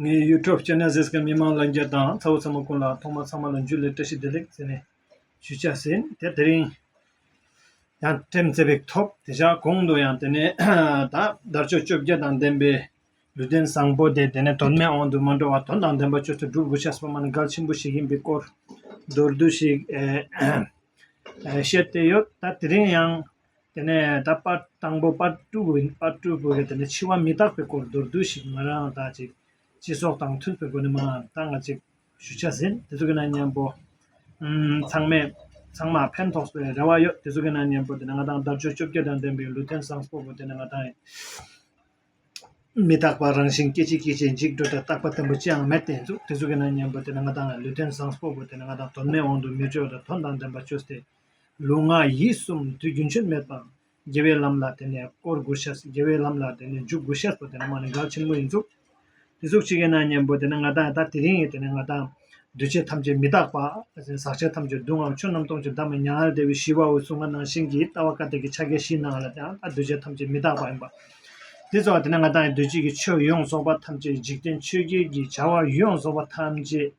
ངའི YouTube Channel ཟེར་སྐད་མི་མང་ལ་འགྱེར་དང་ཚ་བོ་ཚ་མོ་ཀུན་ལ་ཐོག་མ་ཚང་མ་ལ་འཇུ་ལེ་བཀྲ་ཤིས་བདེ་ལེགས་ཟེར་ནས་ཞུ་བྱ་ཟིན་དེ་དེ་རིང་ཡང་འགྲེམས་བརྩེ་བས་ཐོབ་དེ་བཞག་གོང་དུ་ཡང་དེ་ནས་ད་དར་ལྕོག་བཅོ་བརྒྱད་དང་ལྡན་པའི་ལུས་རྟེན་བཟང་པོ་དེ་དེ་ནས་དོན་མེད་དབང་དུ་མ་འགྲོ་བར་དོན་དང་ལྡན་པ་ཁྱོད་ཚོས་སྒྲུབ་དགོས་ཆགས་སོང་བ་ནི་གལ་ཆེན་པོ་ཞིག་ཡིན་པའི་སྐོར་མདོར་བསྡུས་ཤིག་བཤད་དེ་ཡོད་ད་དེ་རིང་ཡང་དེ་ནས་ད་དཔར་དང་པོ་དཔར་སྤྲུལ་བུ་ཡིན་དཔར་སྤྲུལ་བུ་ཡིན་དེ་ནས་འཆི་བ་མི་རྟག་པའི་སྐོར་མདོར་བསྡུས་ཤིག་ང་རང་དག་ཅིག་སྤྱི་སོགས་དང་མཐུན་པའི་སྒོ་ནས་མ་ད་ང་ཅིག་ཞུ་བྱ་ཟིན་དེ་ཚོ་གི་ན་སྙན་པོ། ཚང་མས་ཚང་མ་ཕན་ཐོགས་པའི་རེ་བ་ཡོད་དེ་ཚོ་གི་ན་སྙན་པོ་དེ་ནས་ང་དང་དར་ཅོ་བཅོ་བརྒྱད་དང་ལྡན་པའི་ལུས་རྟེན་བཟང་སྤོ་བོ་དེ་ནས་ང་དང་མི་རྟག་པ་རང་བཞིན་སྐད་ཅིག་སྐད་ཅིག་འཇིག་འགྲོ་དེ་རྟག་པ་བརྟན་པོ་ཅི་ཡང་མེད་དེ་ཚོ་གི་ན་སྙན་པོ་དེ་ནས་ང་དང་ལུས་རྟེན་བཟང་སྤོ་བོ་དེ་ནས་ང་དང་དོན་མེད་དབང་དུ་མི་བྱོལ་བ་དང་དོན་དང་ལྡན་པ་བྱོས་ཏེ། ལུས་ངག་ཡིད་གསུམ་དུས་རྒྱུན་ཆོས་མེད་པར་དགེ་བའི་ལམ་ལ་དེ་ནས་བསྐོར་དགུ་ཤར་དགེ་བའི་ལམ་ལ་དེ་ནས་འཇུག་དགུ་ཤར་བོ་དེ་ནི་མ་ནི་འགག་ཆེན་མོ་ཡིན་གཟུགས་དེ་གཟུགས་ཆེ་གེ་ན་གཉེན་པོ་དེ་ནི་ང་དང་ད་དེ་རིང་ཡིན་དེ་ནི་ང་དང། འདུས་བྱས་ཐམས་ཅད་མི་རྟག་པ། ཟག་བཅས་ཐམས་ཅད་སྡུག་བསྔལ་ཆོས་རྣམས་སྟོང་ཆེན་བདག་མེད་མྱ་ངན་འདས་པའི་ཞི་བ་འོད་སྲུང་ང་སྣང་ཞིང་གི་ལྟ་བ་ཀ་དག་གི་ཕྱག་རྒྱ་བཞིའི་ནང་ལ་དང་ད་འདུས་བྱས་ཐམས་ཅད་མི་རྟག་པ་ཡིན་པ། དེ་ཚོ་བ་དེ་ནི་ང་དང་འདུས་བྱས་ཀྱི་ཆོས་ཡོངས་རྫོགས་པ་ཐམས་ཅད་འཇིག་རྟེན་ཆོས་རྒྱལ་གྱི་བྱ་བ་ཡོངས་རྫོགས་པ་ཐམས་ཅད།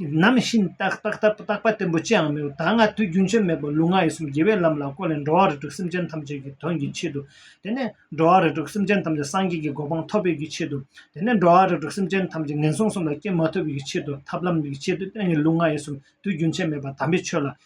ནམ་བཞིན་བརྟགས་བརྟགས་བརྟགས་བརྟགས་པ་བརྟན་པོ་ཅིའང་མེད་པར་ད་སྔ་དུས་རྒྱུན་ཆད་མེད་པར་ལུས་ངག་ཡིད་གསུམ་དགེ་བའི་ལམ་ལ་བཀོད་ནས་འགྲོ་བ་རེ་དྲུག་སེམས་ཅན་ཐམས་ཅད་ཀྱི་དོན་གྱི་ཆེད་དུ། དེ་ནས་འགྲོ་བ་རེ་དྲུག་སེམས་ཅན་ཐམས་ཅད་སངས་རྒྱས་ཀྱི་གོ་འཕང་ཐོབ་པའི་ཀྱི་ཆེད་དུ། དེ་ནས་འགྲོ་བ་རེ་དྲུག་སེམས་ཅན་ཐམས་ཅད་ངན་སོང་གསུམ་ལ་སྐྱེ་མ་ཐུབ་པའི་ཀྱི་ཆེད་དུ་ཐབས་ལམ་གྱི་ཆེད་དུ་བསྟན་ནས་ལུས་ངག་ཡིད་གསུམ་དུས་རྒྱུན་ཆད་མེད་པར་དམ་པའི་ཆོས་ལ་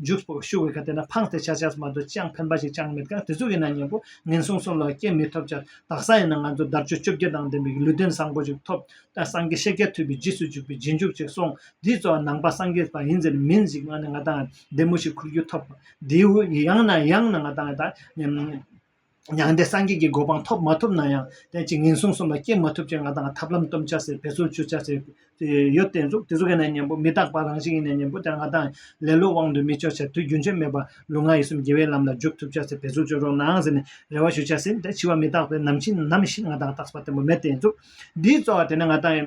འཇུག་པོ་ཤུགས་འོད་ཁ་དེ་ན་འཕང་སྟེ་ཆ་བྱས་སུ་མ་འདུག་ཅང་ཕན་པ་ཞིག་ཅང་མེད་ཀྱང་དེ་ཚོ་ཡིན་ན་སྙིང་པོ་ངན་སོང་སོགས་ལ་སྐྱེ་མི་ཐུབ་ཅག་དག་ས་ཡིན་ན་ང་ཚོ་དར་ཅོ་བཅོ་བརྒྱད་དང་ལྡན་པའི་ལུས་རྟེན་བཟང་པོ་ཞིག་ཐོབ་ད་སངས་རྒྱས་ཤེས་རྒྱ་ཐོས་པའི་རྗེས་སུ་འཇུག་པའི་རྗེས་འཇུག་ཅིག་སོང་དེའི་གཙོ་བ་ནང་པ་སངས་རྒྱས་པ་ཡིན་ཟེར་མིན་ཞིག་ང་ནི་ང་དང་ལྡན་མོ་ཞིག་ཁུར་རྒྱུ་ཐོབ་དེའུ་ཡང་ན་ཡང་ན་ང་དང་ད། མྱང་འདས་སངས་རྒྱས་ཀྱི་གོ་འཕང་ཐོབ་མ་ཐུབ་ན་ཡང་བསྟན་གཅིག་ངན་སོང་གསུམ་ལ་སྐྱེ་མ་ཐུབ་ཅེས་ང་དང་ཐབས་ལམ་གཏུམ་ཆ་ཟེར་བེད་སོ་བཅུ་ཆ་ཟེར་ཡོད་དེ་གཟུགས་དེ་གཟུགས་ཡིན་ན་ཉན་པོ་མི་རྟག་པ་རང་བཞིན་ཡིན་ན་ཉན་པོ་དེར་ང་དང་ལེ་ལོའི་དབང་དུ་མི་བྱོ་ཆ་དུས་རྒྱུན་ཆོས་མེད་པ་ལུས་ངག་ཡིད་གསུམ་དགེ་བའི་ལམ་ལ་འཇུག་ཐུབ་ཆ་ཟེར་བེད་སོ་བཅུ་རོགས་གནང་ཟེར་ནས་རེ་བ་ཞུ་ཆ་ཟིན་ཏེ་འཆི་བ་མི་རྟག་པས་ནམ་འཆི་ནམ་ཤི་ང་དང་རྟགས་པ་བརྟན་པོ་མེད་དེ་གཟུགས་འདིའི་རྩོལ་བ་དེ་ནི་ང་དང།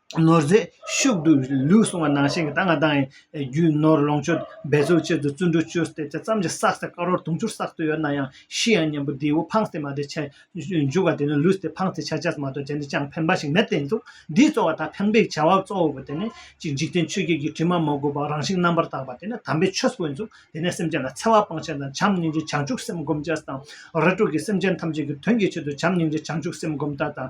ནོར་རྫས་ཤུགས་དུས་ལུས་སྲུང་བ་ནང་བཞིན་གྱི་ད་སྔ་དང་རྒྱུ་ནོར་ལོངས་སྤྱོད་འབད་རྩོལ་ཆེད་དུ་བཙོན་འགྲུལ་སྤྱོད་བསྡད་ཆ་ཙམ་གྱིས་བསགས་ཚེ་དཀར་བོར་དུང་ཕྱུར་བསགས་ཚོད་ཡོད་ན་ཡང་ཤི་ཡང་ཉན་པོ་འདིའི་བུ་འཕངས་ཚེ་མ་དེ་ཆད་འཇུག་བ་དེ་ནི་ལུས་དེ་འཕངས་ཚེ་ཆད་བཅད་མ་གཏོགས་གཞན་དུ་ཅང་ཕན་པ་ཞིག་མེད་བསྟན་འདུག་འདིས་གཙོ་བ་དང་ཕན་པའི་བྱ་བ་གཙོ་བོ་དེ་ནི་གཅིག་འཇིག་རྟེན་ཆོས་བརྒྱད་ཀྱི་དྲི་མ་མ་གོས་པར་རང་བཞིན་རྣམ་པར་དག་པ་དེ་ནི་དམ་པའི་ཆོས་སུ་འཛུག་དེ་ནས་སེམས་ཅན་ལ་འཚེ་བ་སྤང་བྱ་དང་བྱམས་སྙིང་རྗེ་བྱང་ཆུབ་སེམས་སྒོམ་བྱ་དང་ར་སྤྲོད་ཀྱིས་སེམས་ཅན་ཐམས་ཅད་ཀྱི་དོན་གྱི་ཆེད་དུ་བྱམས་སྙིང་རྗེ་བྱང་ཆུབ་སེམས་སྒོམ་བརྡ་དང།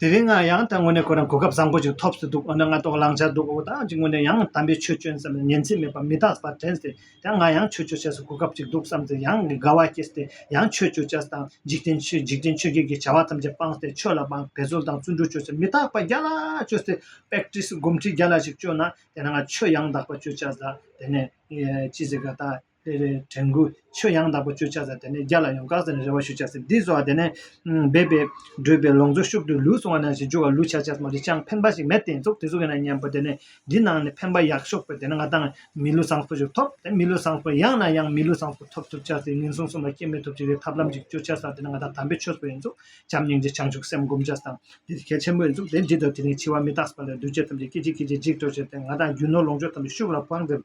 དེ་རིང་ང་ཡང་དངོས་གནས་ཁོ་རང་གོ་སྐབས་བཟང་པོ་ཅིག་ཐོབ་སྲིད་འདུག་འོ་ན་ང་དོགས་བླངས་བྱས་འདུག་འོ་ད་ཅི་ངོ་ནས་ཡང་དམ་པའི་ཆོས་སྤྱོན་ཙམ་ལ་ཉན་ཚེ་མེད་པ་མི་རྟག་པར་དྲན་ཟེར་ཡང་ང་ཡང་ཆོས་སྤྱོད་བྱས་སུ་གོ་སྐབས་ཅིག་འདུག་བསམ་ཚེ་ཡང་དགའ་བ་སྐྱེས་ཏེ་ཡང་ཆོས་སྤྱོད་བྱས་དང་འཇིག་རྟེན་ཆོས་འཇིག་རྟེན་ཆོས་བརྒྱད་ཀྱི་བྱ་བ་ཐམས་ཅད་སྤངས་ཏེ་ཆོས་ལ་དཔང་བས་ཟོལ་དང་བརྩོན་འགྲུས་བཅོལ་ཚེ་མི་རྟག་པ་བརྒྱ་ལ་བཅོལ་ཚེ Practice སྒོམ་ཁྲིད་བརྒྱ་ལ་ཞིག་སྤྱོད་ན་དེ་ན་ང་ཆོས་ཡང་དག་པ་སྤྱོད་བྱ་ཟ་དེ་ནས་ཅི་ཟེར་ག་ད། དེ་ནས་དྲན་སྐུལ་ཆོས་ཡང་དག་པ་བརྗོད་བྱ་ཟེར་དེ་ནས་རྒྱ་ལ་ཡོང་བཀག་ཟེར་ནས་རེ་བ་ཞུ་བྱ་ཟེར་འདི་སོགས་དེ་ནས་སྦས་པའི་བགྲོད་པའི་ལོངས་སྤྱོད་ཤུགས་དུས་ལུས་སྲུང་བ་ནང་བཞིན་འཇུག་བ་ལུས་བྱ་བྱས་སམ་རི་སྤྱང་ཕན་པ་ཞིག་མེད་དེ་ཚོགས་དེ་ཚོ་གི་ནང་སྙན་པོ་དེ་ནས་འདི་ནང་ནས་ཕན་པ་ཡག་ཤོག་པོ་དེ་ནས་ང་དང་མི་ལུས་བཟང་པོ་ཞིག་ཐོབ་དེ་མི་ལུས་བཟང་པོ་ཡག་ན་ཡང་མི་ལུས་བཟང་པོ་ཐོབ་ཐུབ་བྱ་ཟེར་ངན་སོང་གསུམ་ལ་སྐྱེ་མེད་ཐོབ་བྱེད་ཀྱི་ཐབས་ལམ་ཅིག་བཅོས་བྱ་ཟ་དེ་ནས་ང་དང་དམ་པའི་ཆོས་སོགས་ཡིན་ཚུལ་བྱམས་སྙིང་རྗེ་བྱང་ཆུབ་སེམས་བསྒོམ་བྱ་སྟངས་འདི་གལ་ཆེན་པོ་ཡིན་ཚུལ་དེ་འདྲི་དོ་དེ་ནས་འཆི་བ་མི་རྟག་པ་ལས་གདུལ་བྱ་ཐམས་ཅད་སྐད་ཅིག་སྐད་ཅིག་འཇིག་འགྲོ་བྱེད་དེ་ང་དང་རྒྱུ་ནོར་ལོངས་སྤྱོད་ཐམས་ཅད་ཤུགས་ལ་བང་བསྒྲིབས་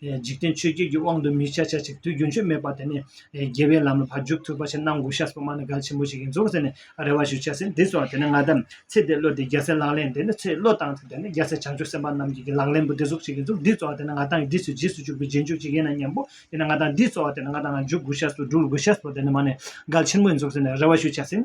འཇིག་རྟེན་ཆོས་བརྒྱད་ཀྱི་དབང་དུ་མི་བྱ་བྱ་ཅིག་དུས་རྒྱུན་ཆོས་མེད་པ་དེ་ནི་རྒྱལ་བའི་ལམ་ལ་བར་འཇུག་ཐུབ་པ་ཞིག་གནང་དགོས་ཤག་སོགས་སྨྲ་ནས་གལ་ཆེན་པོ་ཞིག་ཡིན་ཟུག་ཟེར་ནས་རེ་བ་ཞུ་བྱ་ཟིན་དེ་སོང་བ་དེ་ནས་ང་དམ་ཚིག་དེ་གློད་དེ་རྒྱལ་སྲས་ལག་ལེན་དེ་ནི་ཚེ་བློ་བཏང་ཚེ་དེ་ནི་རྒྱལ་སྲས་བྱང་ཆུབ་སེམས་དཔའ་རྣམས་ཀྱི་གི་ལག་ལེན་པོ་དེ་ཟུག་ཅིག་ཡིན་ཟུག་འདིས་སྩོལ་བ་དེ་ནི་ང་དང་འདིས་སུ་རྗེས་སུ་འཇུག་པའི་རྗེས་འཇུག་ཅིག་ཡིན་ན་སྙམ་པོ་དེ་ནས་ང་དང་འདིས་སྩོལ་བ་དེ་ནི་ང་དང་ང་འཇུག་དགོས་ཤག་སོགས་འཇུག་ལ་དགོས་ཤག་སོགས་དེ་ནི་སྨྲ་ནས་གལ་ཆེན་པོ་ཡིན་ཟུག་ཟེར་ནས་རེ་བ་ཞུ་བྱ་ཟིན།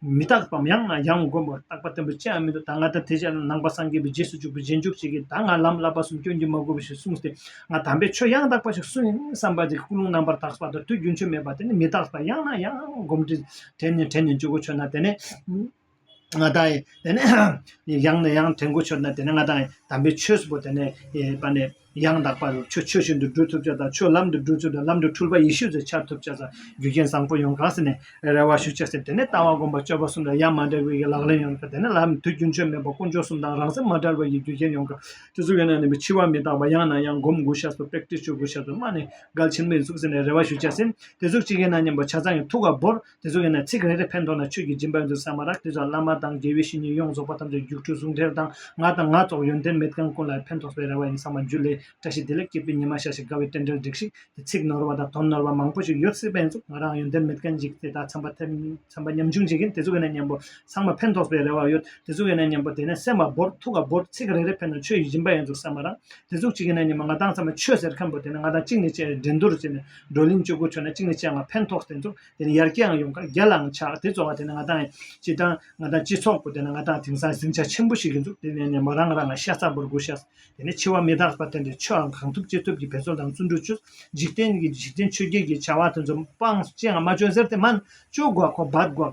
མི་རྟག་པའམ་ཡང་ན་ཡང་མགོན་པོར་རྟག་པ་བརྟན་པོ་ཅིའང་མི་འདུག་ད་ང་དང་དེ་རྗེས་ལ་ནང་པ་སངས་རྒྱས་པའི་རྗེས་སུ་འཇུག་པའི་རྗེས་འཇུག་ཅིག་གིས་ད་ང་ལམ་བསླབ་པ་གསུམ་སྐྱོན་གྱིས་མ་གོས་པ་ཞིག་གསུངས་ཏེ། ང་དམ་པའི་ཆོས་ཡང་དག་པ་ཞིག་གསུངས་ཡིན་བསམ་པ་དེ་ཀུན་སློང་རྣམ་པར་དག་པ་དང་དུས་རྒྱུན་ཆོས་མེད་པ་དེ་ནི་མི་རྟག་པ་ཡང་ན་ཡང་བསྒོམ་དྲི་དྲན་ནས་དྲན་ནས་འཇུག་གོ་ཆོད་ན་དེ་ནི་ང་དང། དེ་ནི་ཡང་ན་ཡང་དྲན་གོ་ཆོད་ན་དེ་ནི་ང་དང། དམ་པའི་ཆོས་སུ་བོ་དེ་ནི་པ་ནི། ཡང་དག་པར་ཆོས་ཆོས་བཞིན་དུ་སྒྲུབ་ཐུབ་བྱ་དང་ཆོས་ལམ་དུ་སྒྲུབ་ཚུལ་དང་ལམ་དུ་འཁྲུལ་པ་ཡེ་ཤེས་སུ་འཆར་ཐུབ་བྱ་བར་རྒྱུ་རྐྱེན་བཟང་པོ་ཡོངས་གང་ཟིན་ནས་རེ་བ་ཞུ་བྱ་ཟེར་དེ་ནས་ལྟ་བ་སྒོམ་པ་སྤྱོད་པ་གསུམ་ལ་ཡང་མ་འདྲེས་པའི་ལག་ལེན་ཡོད་ལ་དེ་ནས་ལམ་དུས་རྒྱུན་ཆོས་མེད་པ་དཀོན་མཆོག་གསུམ་དང་རང་སེམས་མ་བྲལ་བ་ཡི་རྒྱུ་རྐྱེན་ཡོངས་གང་དུས་སུ་ཡོད་ན་ནི་འཆི་བ་མི་རྟག་པ་ཡང་ན་ཡང་སྒོམ་དགུ་བྱ་སོ་པེག་ཏྲི་ཆོས་དགུ་བྱ་སོ་སྨྲ་ནས་འགལ་ཕྱིར་མི་གཟུགས་ཟེར་ནས་རེ་བ་ཞུ་བྱ་ཟིན་དེ་གཟུགས་གཅིག་ཡིན་ན་སྙམ་པ་བྱ་ཚང་གི་ཐུགས་ཀ་བོར། དེ་ཚོ་ཡིན་ན་ཚིག་རེ་རེ་ཕན་ཐོགས་ན་ཆོས་ཀྱི་སྦྱིན་པ་ཡོང་རྒྱུ་ཟ་མ་རག་དེ་ཚོ་བླ་མ་དང་དགེ་བའི་བཤེས་གཉེན་ཡོངས་རྫོགས་པ་ཐམས་ཅད་རྒྱུགས་འཕྲོད་ཟུང་འབྲེལ་དང་ང་དང་ང་སོགས་ཡོན་ཏན་མེད་ཀྱང་ཀུན་ལ་ཕན་ཐོགས་པའི་རེ་བ་ཡིན་ཟ་མ་རྒྱུད་ལས་བཀྲ་ཤིས་བདེ་ལེགས་སྐྱེད་པའི་ཉི་མ་ཤར་ཞིག་དགའ་བའི་རྟེན་འབྲེལ་འགྲིགས་ཤིག་དེ་ཚིག་ནོར་བ་དང་དོན་ནོར་བ་མང་པོ་ཞིག་ཡོད་སྲིད་པ་ཡིན་ཙུག་ང་རང་ཡོན་ཏན་མེད་ཀྱང་འཇིག་དེ་དག་འཚམས་པ་ཐེབས་འཚམས་པ་ཉམ་ཆུང་བྱེད་མཁན་དེ་ཚོ་ཡིན་ན་སྙམ་པོ་ཚང་མ་ཕན་ཐོགས་པའི་རེ་བ་ཡོད་དེ་ཚོ་ཡིན་ན་སྙམ་པོ་དེ་ནས་སེམས་བ་བོར་ཐུགས་ཀ་བོར་ཚིག་རེ་རེ་ཕན་ན་ཆོས་ཀྱི་སྦྱིན་པ་ཡོང་རྒྱུ་ཟ་མ་རག་དེ་ཚོ་གཅིག་ཡིན་ན་སྙམ་པོ་ང་དང་ཚང་མ་ཆོས་ཟེར་མཁན་པོ་དེ་ནི་ང་དང་གཅིག་ནས་བཅས་འགྲན་བསྡུར་བྱས་ནས་བགྲོ་གླེང་བཅུ་དགུ་ཁྲོད་ན་གཅིག་ནས་གཅིག་ལ་ཕན་ཐོགས་བརྟེན་ཐུབ་དེ་ནས་ཡར་རྒྱས་ཡང་ཡོང་ཁར་རྒྱ་ལའང་ཆགས་དེ་གཙོ་བ་དེ་ནི་ང་དང་སྤྱི་དང་ང་དང་སྤྱི་ཚོགས་པོ་དེ་ནི་ང་དང་དེང་སང་ཟིང་ཆ་ཆེན་པོ་ཞིག་ཡིན་འདུག་དེ་ནས་ནས་མོ་རང་རང་ང་ཤ་ཚ་པོར་སྒུག་ཤག་དེ་ནས་འཆི་བ་མི་རྟག་པ་དེ་འདྲའི་ཆོས་ཨང་གང་ཐུབ་ཅི་ཐུབ་ཀྱིས་བེད་སྤྱོད་དང་བརྩོན་འགྲུས་བྱོས་འཇིག་རྟེན་གྱི་འཇིག་རྟེན་ཆོས་བརྒྱད་ཀྱི་བྱ་བ་དེ་ཚོ་སྤངས་བཅད་ང་མ་བྱོས་ཟེར་དེ་སྨན་བཅོས་དགོས་ཁོ་སྦལ་དགོས